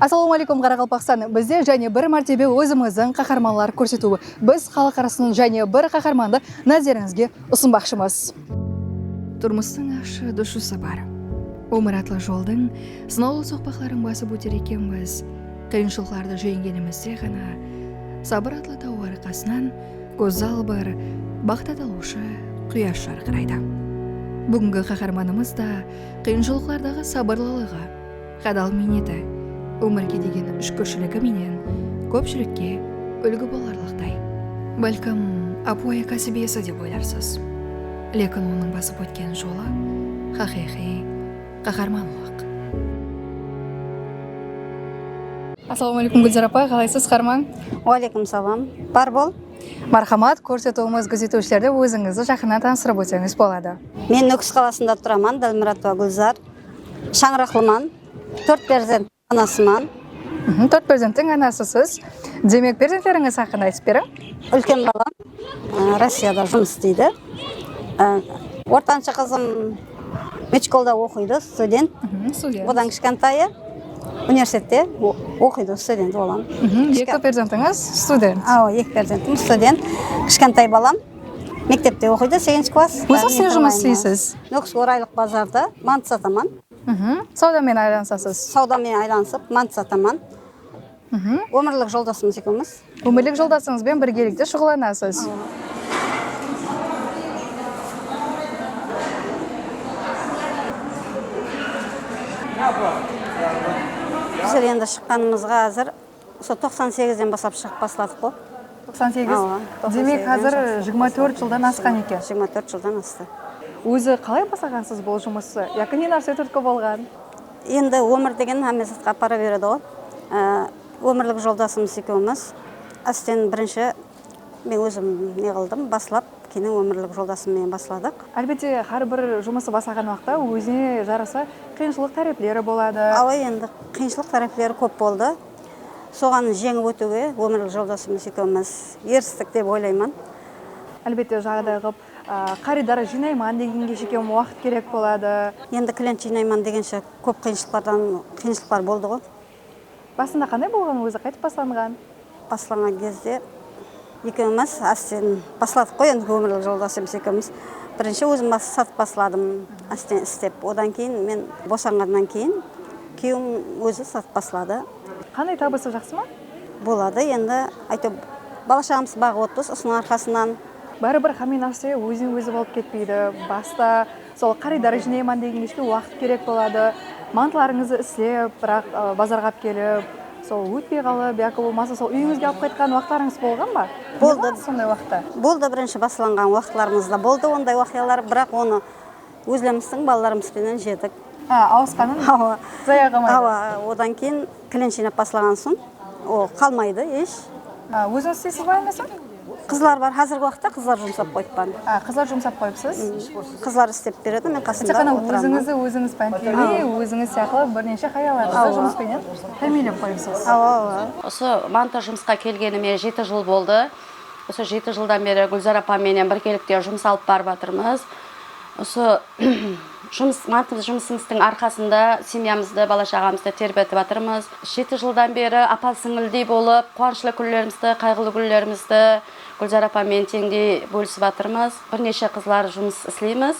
Assalawma aleykum Qaraqalpaqstan bizde jáne bir mártebe ózimizdiń qaharmanlar kórsetiwi biz xalıq arasınan jáne bir qaharmandı názerińizge usınbaqshımız. Turmıstıń ashı dushı sapar Ómir atlı joldıń sınawlı soqpaqların basıp óter ekenbiz Qıyınshılıqlardı jengenimizde ǵana Sabır atlı taw arqasınan Gózzal bir baxt atawıwshı quyash jarqıraydı. Búgingi qaharmanımız da qıyınshılıqlardaǵı sabırlılıǵı, hadal miyneti, ómirge degen shúkirshiligi menen kópshilikke úlgi bolarlıqtay. Bálkim, ápiwayı kásibiyesi dep oylarsız. Lekin onıń basıp ótken jolı haqıyqıy Qaharmanlıq. Assalawma aleykum Gúlzar apa, qalaysız, harmań? Wa aleykum salam, bar bol. Marhamat, kórsetiwimiz gúzetiwshilerdi ózińizdi jaqınnan tanıstırıp ótseńiz boladı. Men Nókis qalasında turaman, Dalmuratova Gúlzar. Shańıraqlıman, tórt perzent. Anasıman. Tórt perzenttiń anasısız. Demek, perzentlerińiz haqqında aytıp beriń. Úlken balam Rossiyada jumıs isteydi. Ortanshı qızım medshkolda oqıydı, student. Odan kishkentayı universitette oqıydı, student olam. Eki perzentińiz student. Awa, eki perzentim student. Kishkentay balam mektepte oqıydı, seginshi klass. Ózińiz ne jumıs isleysiz? Nókis Oraylıq bazarda mantı sataman. Sawda menen aylanısasız. Sawda menen aylanısıp mant sataman. Ómirlik joldasımız ekewmiz. Ómirlik joldasıńızben birgelikte shuǵıllanasız. Bizler endi shıqqanımızǵa házir. Usı toqsan segizden baslap shıǵıp basladık ǵo. Toqsan segiz? Demek xazir jigirma tórt jıldan asqan eken. Jigirma tórt jıldan astı. Ózi qalay baslaǵansız bul jumıstı? Yaki ne nárse túrtki bolǵan? Endi ómir degen hámme zatqa apara beredi ǵo. Ómirlik joldasımız ekewimiz ásten birinshi. Men ózim ne qıldım baslap kenin ómirlik joldasım menen basladıq. Álbette xár bir jumısı baslaǵan waqta ózine jarasa qıyınshılıq tárepleri boladı. Awa endi qıyınshılıq tárepleri kóp boldı. Soǵan jeńip ótiwge ómirlik joldasımız ekewimiz eristik dep oylayman. Álbette jaǵıday qılıp qarıydar jıynayman degenge shekem waqıt kerek boladı. Endi klient jıynayman degenshe kóp qıyınshılıqlardan qıyınshılıqlar boldıǵo. Basında qanday bolǵan ózi qaytıp baslanǵan. Baslanǵan gezde ekewimiz ásten basladıq qoy endi ómirlik joldasımız ekewimiz birinshi ózim bas satıp basladım ásten istep odan keyin men bosanǵannan keyin kuyewim ózi satıp basladı. Qanday tabısı jaqsı ma. Boladı endi áyteu bala shaǵamızdı baǵıp otırız usınıń arqasınan. Báribir xámme nárse ózinen ózi bolıp ketpeydi basta Sol qarıydar jınayman degengeshe waqıt kerek boladı, mantlarıńızdı islep, biraq bazarǵa alıp kelip, sol ótpey qalıp yaki bolmasa sol úyińizge alıp qaytqan waqıtlarıńız bolǵan ba? Ne qılasız sonday waqıtta? Boldı, birinshi baslanǵan waqıtlarımızda boldı onday waqıyalar, biraq onı ózlerimistiń balalarımız penen jedik. Há, awısqanın zaya qalmaydı. Awa, odan keyin. Klient jıynap baslaǵan soń o qalmaydı esh. Ózińiz isteysiz ba emesá? Qızlar bar, házirgi waqıtta qızlar jumsap qoyıppan. A, qızlar jumsap qoyıpsız. Qızlar istep beredi, men qasında otıraman. Tek ǵana ózińizdi ózińiz pántleme, ózińiz sıyaqlı bir neshe hayallarıńızdı jumıs penen támiyinlep qoyıpsız. Awa, awa. Usı bankka jumısqa kelgenime jeti jıl boldı. Usı jeti jıldan beri Gúlzar apam menen birgelikte jumıs alıp barıp atırmız. Usı. Jumıs, mantılı jumısımızdıń arqasında semyamızdı, bala-shaǵamızdı terbetip atırmız. Jeti jıldan beri apa-sińildey bolıp, quwanıshlı kúnlerimizdi, qayǵılı kúnlerimizdi Gúlzara apa menen teńdey bólisip atırmız. Bir neshe qızlar jumıs isleymiz.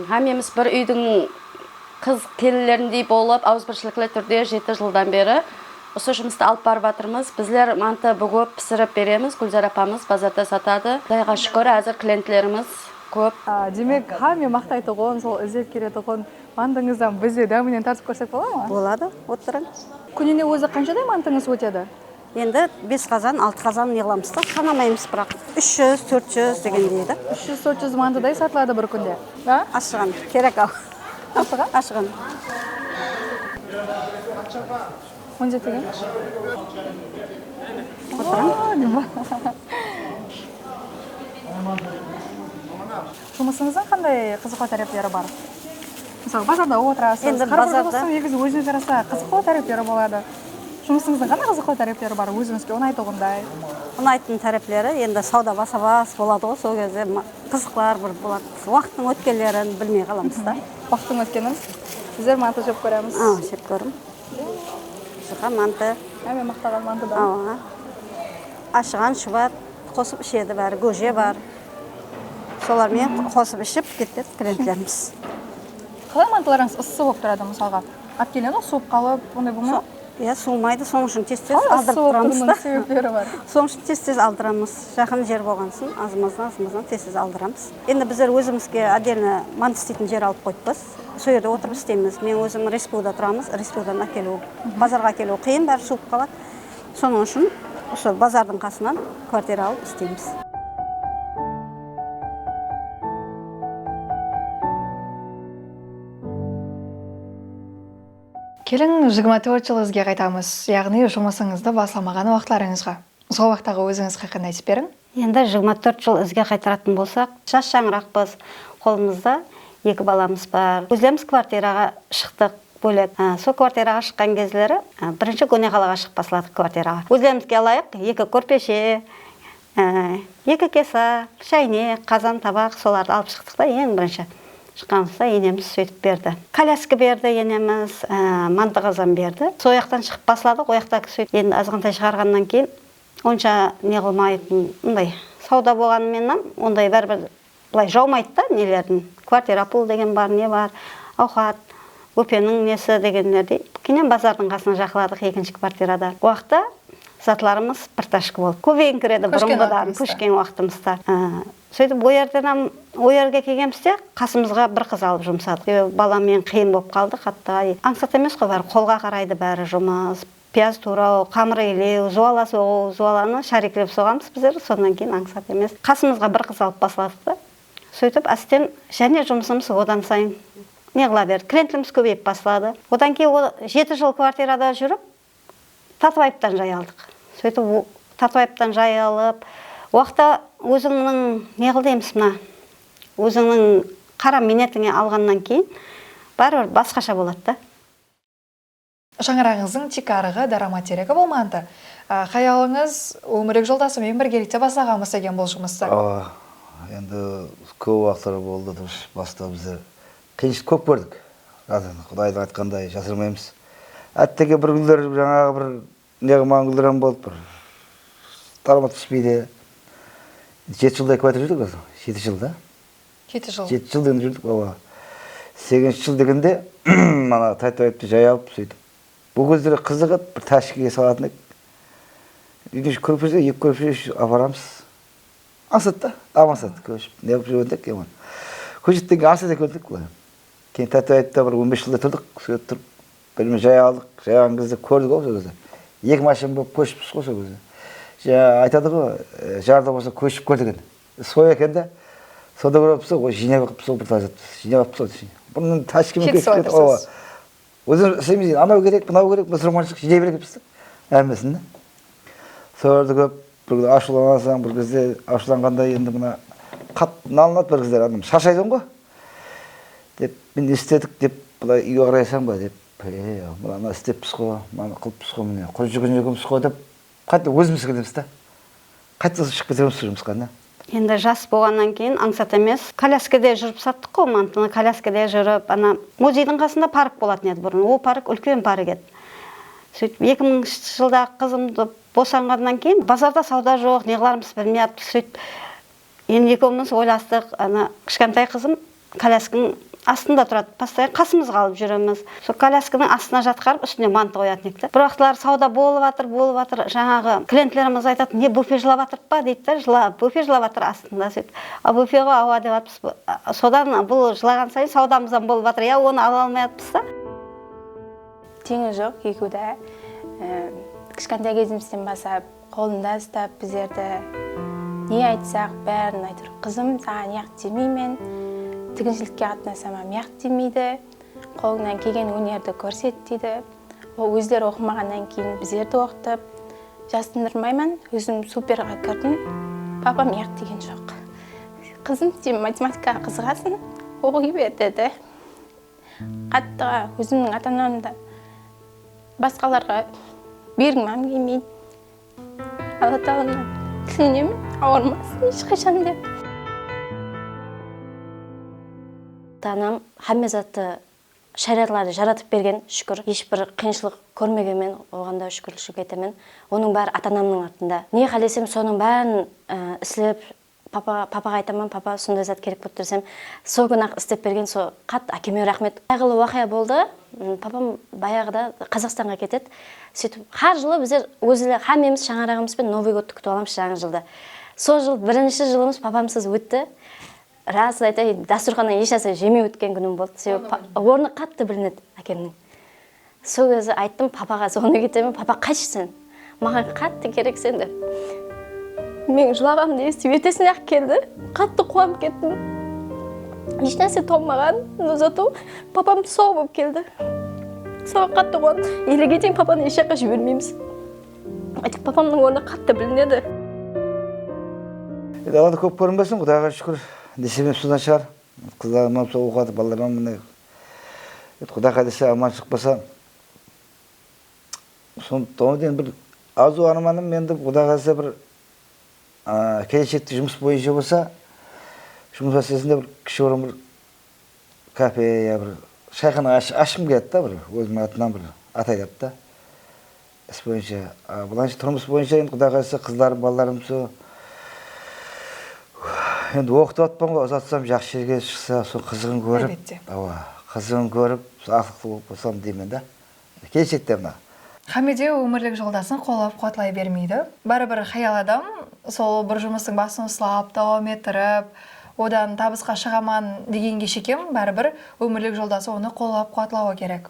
Hámmemiz bir úydiń qız kelinlerindey bolıp, awızbirshilikli túrde jeti jıldan beri usı jumıstı alıp barıp atırmız. Bizler mantı búgip, pisirip beremiz, Gúlzara apamız bazarda satadı. Qudayǵa shúkir, házir klientlerimiz kóp. Demek, hámme maqtaytuǵın, sol izlep keletuǵın mantıńızdan biz de dáminen tartıp kórsek bola ma? Boladı, otırıń. Kúnine ózi qanshaday mantıńız ótedi? Endi bes qazan, altı qazan yıǵılamız da, sanamaymız, biraq úsh júz, tórt júz degendey da. Úsh júz, tórt júz mantıday satıladı bir kúnde. Ashıǵan, kerek-aw. Ashıǵan? Ashıǵan. On jeti kem Jumısıńızdıń qanday qızıqlı tárepleri bar? Mısalı bazarda otırasız Endi bazarda Negizi ózine jarasa qızıqlı tárepleri boladı. Jumısıńızdıń qanday qızıqlı tárepleri bar ózińizge unaytuǵınday? Unaytın tárepleri endi sawda basa bas boladıǵo sol gezde qızıqlar bir boladı. Waqıttıń ótkenlerin bilmey qalamız da. Waqıttıń ótkenin bizler manta jep kóremiz. Jep kórim. Bul juqa mantı. Há men maqtaǵan mantıdan. Awa. Ashıǵan shubat qosıp ishedi bári góje bar. Solar menen qosıp iship ketpes klientlerimiz. Qalay mantılarıńız ıssı bolıp turadı mısalǵa alip kelgen ǵoy suwıp qalıp onday bolmay ma? Iya suwımaydı sonıń ushın tez tez aldırıp turamız da. Sebepleri bar. Sonıń ushın tez tez aldıramız jaqın jer bolǵan ushın azımızdan azımızdan tez tez aldıramız endi bizler ózimizge otdельno mantı isteytin jer alıp qoyıppız. Sol jerde otırıp isteymiz. Men ózim Respu da turamız. Respu dan ákeliw, bazarǵa ákeliw qıyın, bári shuwıp qaladı. Sonıń ushın usı bazardıń qasınan kvartira alıp isteymiz. Kelin, jigirma tórt jıl izge qaytamız, yaǵnıy jumısıńızdı baslamaǵan waqıtlarıńızǵa. Sol waqıttaǵı ózińiz haqqında aytıp beriń. Endi jigirma tórt jıl izge qaytaratın bolsaq, jas shańıraqpız, qolımızda eki balamız bar. Ózlerimiz kvartiraǵa shıqtıq, bólek. Sol kvartiraǵa shıqqan gezleri birinshi góneǵalaǵa shıǵıp basladıq kvartiraǵa. Ózlerimizge alayıq, eki kórpeshe, eki kesa, shaynek, qazan, tabaq, solardı alıp shıqtıq ta, eń birinshi shıqqanımızda enemiz sóytip berdi. Kolyaska berdi enemiz, mantı qazan berdi. Soyaqtan shıǵıp basladıq, oyaqta endi azǵantay shıǵarǵannan keyin Onsha neǵılmayıptın bunday sauda bolǵanımenam onday báribir bılay jaumaydı da nelerdin kvartira pul degen bar ne bar auxat bópeniń nesi degenlerdey kenyam bazardın qasına jaqıladıq ekinshi kvartirada uaqıtta zatlarımız bir tashka boldı kóbeyińkiredi burınǵıdan kóshken uaqıtımızda sóytip oyerdenam oyerge kelgenimizde qasımızǵa bir qız alıp jumsadıq sebebi balamen qıyın bolıp qaldı qattı ańsat emesqoy bári qolǵa qaraydı bári jumıs Piyaz tuwraw, qamır iylew, zuwala soǵıw, zuwalanı shariklep soǵamız bizler, sonnan keyin ańsat emes qasımızǵa bir qız alıp basladıq ta. Sóytip ásten jáne jumısımız odan sayın neǵılaberdi, klientimiz kóbeyip basladı. Odan keyin ol jeti jıl kvartirada júrip Tatıbayıptan jay aldıq. Sóytip Tatıbayıptan jay alıp uaqta ózińniń neǵıl deymiz mına ózińniń qara miynetińe alǵannan keyin báribir basqasha boladı da. Shańaraǵıńızdıń tiykarǵı daramat teregi bolmandı. Xayalıńız ómirik joldası menen birgelikte baslaǵanbız degen bul jumıstı. Awa, endi kóp uaqıtlar boldı durıs basında bizler qıyınshılık kóp kórdik. Rad endi Qudaydıń aytqanınday jasırmaymız. Átteke bir kúnler jańaǵı bir Neǵip maǵan gúldiram bolıp bir talıma túspeydi. Jeti jılday kúátir júrdik ozi, jeti jıl da. Jeti jıl. Jeti jıl degende júrdik awa. Seginshi jıl degende mana taytayıptı jay alıp sóytip. Ol gezleri qızıq edi, bir táshikege salatın edik. Úyden úsh kórpeshe, eki kórpeshe úsh aparamız. Ańsat ta, ap ańsat kóship neǵip júrgen edik keyin ona. Kóshetten keyin ańsat ekendi edik bılay. Keyin taytayıpta bir on bes jılday turdıq, sóytip turıp. Bilim jay aldıq, jayǵan gezde kórdik-aw sol gezde. Eki mashin bolıp kóshippiz ǵo sol gezde. Jańa aytadı-ǵo, jarda bolsa kóship ket eken. Soy eken da, sonda kóreppiz-aw, ǵo jıynay berippiz-aw bir táshet. Jıynap aptıpız-aw desheyin. Bunın táshkemi ketip ketip, awa. Ózimiz isleymiz endi, anaw kerek, mınaw kerek, mısurmanshılıq jıynay berekepiz da, hámmesin da. Solardı kórip, Bir kúni ashıwlanasań, bir gezde ashıwlanǵanda endi mına qat nalınat bir gezler adam sharshaydıń ǵo dep mine ne istedik dep bılay úyge qarayasań ba dep e mınanı isteppiz ǵo mınanı qılıppiz ǵo mine qúl júgirgen ekenbis ǵo dep qayta ózimizge kelemizda qaytadan sol shıǵıp keteberemiz sol jumısqa mine Endi jas bolǵannan keyin ańsat emes. Kolyaskada júrip sattıq ǵo mantını, kolyaskada júrip ana muzeydiń qasında park bolatın edi burın. Ol park úlken park edi. Sóytip eki mıńshı jıldaǵı qızım bosanǵannan keyin bazarda sawda joq, neǵılarımızdı bilmey atpız. Sóytip endi ekewimiz oylastıq, ana kishkentay qızım Kolyaskiniń astında turadı postoyan qasımızǵa alıp júremiz sol kolyaskiniń astına jatqarıp ústine mantı qoyatın edik da bir uaqıtlar sauda bolıp atır bolıp atır jańaǵı klientlerimiz aytad ne bufe jılap atırıp pa deydi da jıla bufe jılap atır astında sóytip a bufe ǵo aua dep atpız sodan bul jılaǵan sayın saudamızam bolıp atır ya onı ala almay atpız da teńi joq ekeuda kishkantay kezimizden basap. Qolında ustap bizlerdi Ne aytsaq bárin aytır qızım saǵan yaq demeymen tiginshilikke qatnasamam yaq demeydi qolıńnan kelgen ónerdi kórset deydi ol ózleri oqımaǵannan keyin bizlerdi oqıtıp jasındırmayman ózim superǵa kirdim papam yaq degen joq qızım sen matematikaǵa qızıǵasın oqıy ber dedi qattı ózimniń ata anamda Basqalarǵa bergimam kelmeydi. Alla taǵaladan tilenemen, awırmasın hesh qashan da. Ta anam hámme zattı, sháriyatlardı jaratıp bergen, shúkir. Hesh bir qıyınshılıq kórmegenmen, oǵan da shúkirlishlik etemen. Onıń bári ata-anamnıń artında. Ne qálesem, sonıń bárin islep, Papa papaǵa aytaman papa sonday zat kerek bolıp tur desem sol kuni aq istep bergen so xat akeme raxmet qayǵılı uaqıya boldı papam bayaǵıda qazaqstanǵa ketedi sóytip xar jılı bizler ózler xámmemiz shańaraǵımızben novıy godtı kútip alamız jańa jıldı sol jıl birinshi jılımız papamsız ótti rasın aytayın dasturxannan esh narse jemey ótken kúnim boldı sebep ornı qattı bilinedi akemniń. Sol kezi ayttım papaǵa sonı ketemen papa qaytshı sen maǵan qattı kerekseń dep meniń jılaǵanımdı esitip ertesine aq keldi qattı quwanıp kettim esh nárse tolmaǵan no zato papam sau bolıp keldi soǵan qattı quwandım elege sheyin papanı esh jaqqa jibermeymiz aytek papamnıń ornı qattı bilinedi. Endi alada kóp kórinbesin qudayǵa shúkir nesibem sodan shıǵar qızlarım ham sol oqıadı ballaram ham mine Endi Quday qálesze aman shıqpasa son tonı da endi bir arzu armanım endi Quday qálesze bir keleshekte jumıs boyınsha bolsa jumıs máselesinda bir kisheorim bir kafe ya bir shayxana ashqım keledi da bir ózimiń atınan bir atayıp ta Is boyınsha bılayınsha turmıs boyınsha endi Quday qalısa qızlarım balalarım usı endi oqıtıp atpan ǵoy uzatsam jaqsı jerge shıqsa usı qızıǵın kórip Álbette. Awa qızıǵın kórip usı aqlıqlı bolıp qosam deymen da keleshekte mına. Xámme de ómirlik joldasın qollap quwatlay bermeydi. Báribir xayal adam sol bir jumıstıń basın uslap dawam ettirip odan tabısqa shıǵaman degenge shekem báribir ómirlik joldası onı qollap quwatlawı kerek.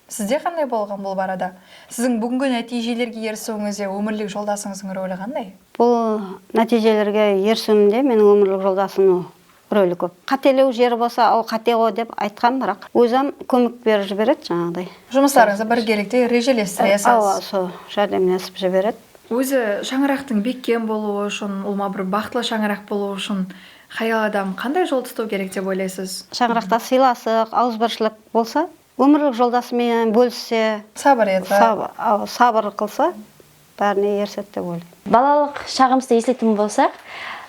Sizde qanday bolǵan bul barada? Siziń búgingi nátiyjelerge erisiwińizde ómirlik joldasıńızdıń roli qanday? Bul nátiyjelerge erisiwimde meniń ómirlik joldasımnıń roli kóp. Qátelew jeri bolsa, ol qáteǵo dep aytqan, biraq ózam kómek berip jiberedi jańaǵıday. Jumıslarıńızdı birgelikte rejelestiresiz. Awa, sol járdemlesip jiberedi. Ózi shańaraqtıń bekkem bolıwı ushın, ulma bir baxıtlı shańaraq bolıwı ushın hayal adam qanday jol tutıw kerek dep oylaysiz? Shańaraqta sıylasıq, awızbirshilik bolsa Ómirlik joldası menen bólisse, sabır etse, sabır qılsa, bárine erisedi dep oylayman. Balalıq shaǵımızdı esletuǵın bolsaq,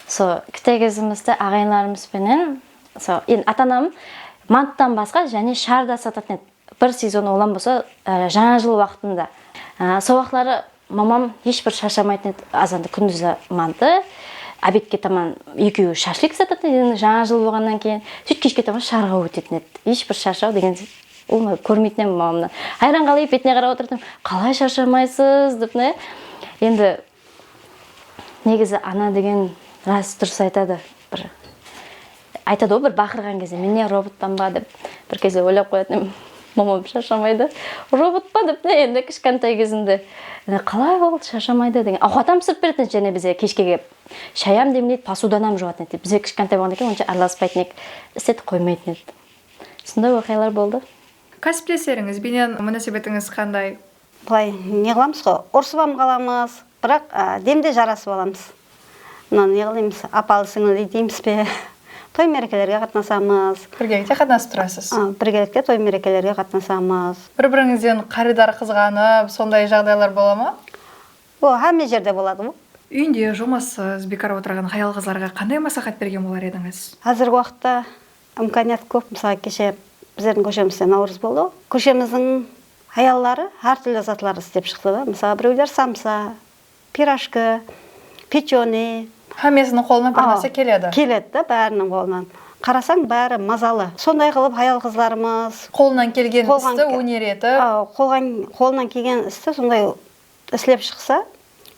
so kite gezimizdi aǵayınlarımız penen, so endi ata anam manttan basqa jáne shar da satatın edi. Bir sezon olam bolsa jańa jıl waqtında. So waqıtları Mamam hesh bir sharshamaytın edi, azanda kúndiz de mandı, obedke taman ekeui shashlik jasatıtın edi, endi jańa jıl bolǵannan keyin sóyt keshke taman shıǵarǵa ótetin edi, hesh bir sharshau degen bolmaydı, kórmeytin edim mamamnan, hayran qalayıp betine qarap otırtın, qalay sharshamaysız dep mına endi negizi ana degen ras durıs aytadı bir. Aytadı ǵoy bir baqırǵan gezde mine robotpan ba dep bir keze oylap qoyatın momam sharshamaydı robot pa dep mine endi kishkantay gezinde ine qalay boldı sharshamaydı degen awqatam pisirip beredi edi jáne bizge keshke kelip shayam demleydi posudanam juwatın edi bizler kishkantay bolǵannan keyin onsha aralaspaytın edik istetip qoymaytın edi sonday oqıyalar boldı. Kásiplesterińiz benen múnásebetińiz qanday? Bılay ne qılamız ǵoy urısıp ham qalamız. Biraq demde jarasıp alamız. Mına neǵılaymız, apalı-sińliley deymiz be, toy-márekelerge qatnasamız. Birgelikte qatnasıp turasız. A, birgelikte toy-márekelerge qatnasamız. Bir-birińizden qarıydar qızǵanıp, sonday jaǵdaylar bola ma? O, hámme jerde boladı ol. Úyinde jumassız, biykar otırǵan hayal-qızlarǵa qanday másláhát bergen bolar edińiz? Házirgi waqıtta Imkaniyat kóp mısalı keshe bizlerdiń kóshemizde Nawrız boldı kóshemizdiń hayalları hár túrli zatlardı islep shıqtı da mısalı birewler samsa pirajki pechenıy Hámmesiniń qolına bir nárse keledi. Keledi da báriniń qolına qarasań bári mazalı sonday qılıp hayal qızlarımız Qolınan kelgen isti óner etip. Qolǵan qolınan kelgen isti sonday islep shıqsa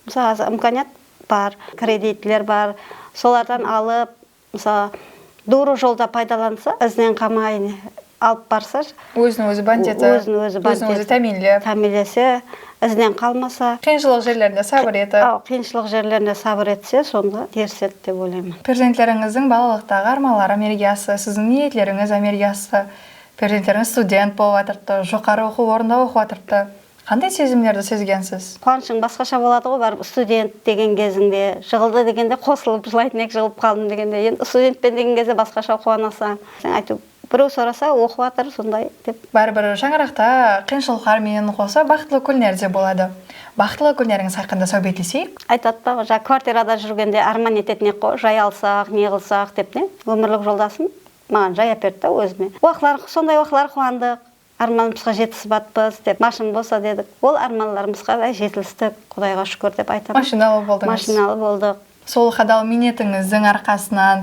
mısalı házir imkaniyat bar kreditler bar solardan alıp Mısalı, duwrı jolda paydalansa, izinen qamayın alıp barsa, Ózin ózi bant etip, ózin ózi bant etip, ózin ózi támiyinlep, támiyinlese, izinen qalmasa, Qıyınshılıq jerlerinde sabır etip. Awa, qıyınshılıq jerlerinde sabır etse, sonda erisedi dep oylayman. Perzentlerińizdiń balalıqtaǵı armanları ámelge astı, siziń niyetlerińiz ámelge astı, perzentlerińiz student bolıp atırıptı, joqarı oqıw ornında oqıp atırıptı, Qanday sezimlerdi sezgensiz? Quwanıshıń basqasha boladıǵo báribir student degen gezińde jıǵıldı degende qosılıp jılaytın eki jıǵılıp qaldım degende endi studentpen degen gezde basqasha quwanasań sen aytıw bireu sorasa oqıp atır sonday dep. Báribir shańaraqta qıyınshılıqlar menen qosa baxıtlı kúnler de boladı baxıtlı kúnlerińiz haqqında sáwbetleseyik. Aytadı da ǵo ja kvartirada júrgende árman etetin eqqo jay alsaq ne qılsaq dep ne ómirlik joldasım maǵan jay áperdi da ózime uaqıtlar sonday uaqıtlar quwandıq Ármanımızǵa jetisibatpız dep mashın bolsa dedik. Ol ármanlarımızǵa qáray jetilistik, Qudayǵa shúkir dep aytıp. Mashinalı boldıńız. Mashinalı boldıq. Sol xadal miynetińizdiń arqasınan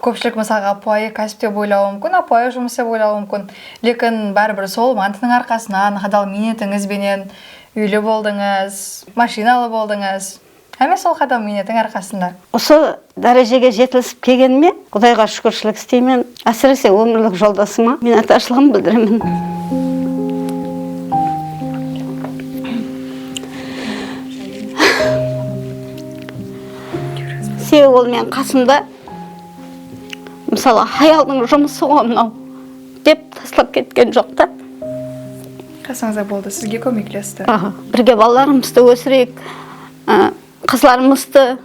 kópshilik mısalǵa ápiwayı kásip dep oylawı múmkin, ápiwayı jumıs dep oylawı múmkin. Lekin báribir sol mantınıń arqasınan, xadal miynetińiz benen úyli boldıńız, mashinalı boldıńız. Háme sol qadam miynetiń arqasında. Usı dárejege jetilisip kelgenime Qudayǵa shúkirshilik isteymen. Ásirese ómirlik joldasıma miynetdarshılıǵımdı bildiremen. Sebebi ol meniń qasımda. Mısalı, hayaldıń jumısıǵo mınau. Dep taslap ketken joq ta. Qasıńızda boldı, sizge kómeklesti. Birge balalarımızdı ósireyik, qızlarımızdı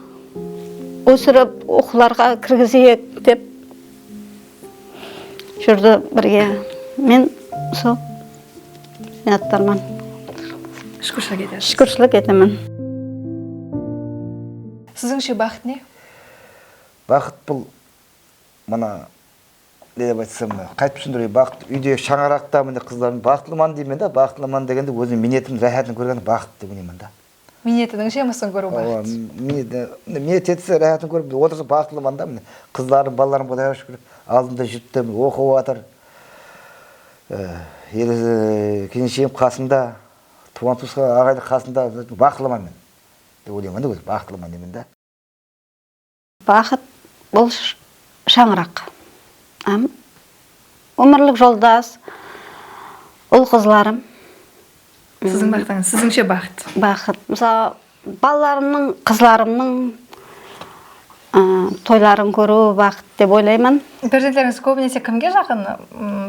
ósirip oqıwlarǵa kirgizeyik dep júrdi birge. Men usı minnatdarman. Shúkirshilik etesiz. Shúkirshilik etemen. Sizińshe baxıt ne? Baxıt bul mına. Ne dep aytsam, qaytip túsindirey, baxıt úyde shańaraqta mine qızlarım baxıtlıman deymen da, baxıtlıman degende ózim miynetim ráhátın kórgen baxıt dep oynayman da. Miynetiniń jemısin kóriw baxıt. Mine miynet etse ráhátın kórip mine otırsa baxıtlıman da mine qızlarım, balalarım Qudayǵa shúkir aldımda júripti mine oqıp atır. Kelinshegim qasımda, tuwǵan tuwısqan aǵaydı qasımda baxıtlıman men dep oynayman da ózim baxıtlıman deymen da. Baxıt, bul shańıraq hám ómirlik joldas, ul-qızlarım. Siziń baxıtıńız, sizińshe baxıt? Baxıt, mısalı, balalarımnıń, qızlarımnıń toyların kóriw baxıt dep oylayman. Perzentlerińiz kóbinese kimge jaqın,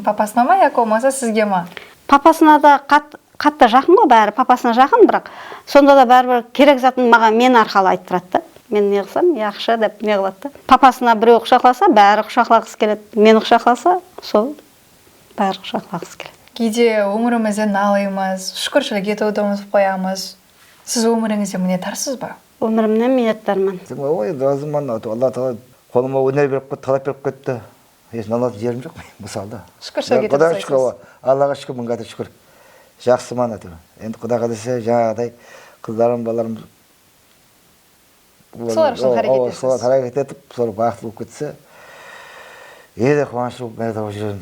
papasına ma yaki bolmasa sizge ma? Papasına da qat, Katta jaqın ǵo bári papasına jaqın biraq sondada báribir kerek zatın maǵan men arqalı aytıp turadı da men neǵısam yaqshı dep neǵıladı da papasına bireu qushaqlasa bári qushaqlaǵısı keledi meni qushaqlasa sol bári qushaqlaǵısı keledi. Geyde ómirimizden nalıyımız, shúkirshilik etiwdi umıtıp qoyamız. Siz ómirińizde minnetdarsız ba? Ómirimnen minnetdarman. Sen oy razıman, Alla taala qolıma óner berip ketti, qalap berip ketti. Hech nalazı jerim joq menin bul salda. Shúkir shó ketip Qudaǵa shúkir awa Allaǵa shúkir mıń gáde shúkir jaqsıman áteúir endi Quday qálese jańaǵıday qızlarım balalarım Solar ushın xáreket etesiz. Solar xáreket etip solar baxıtlı bolıp ketse ele quwanıshlı bolıp márek tawıp júrerin.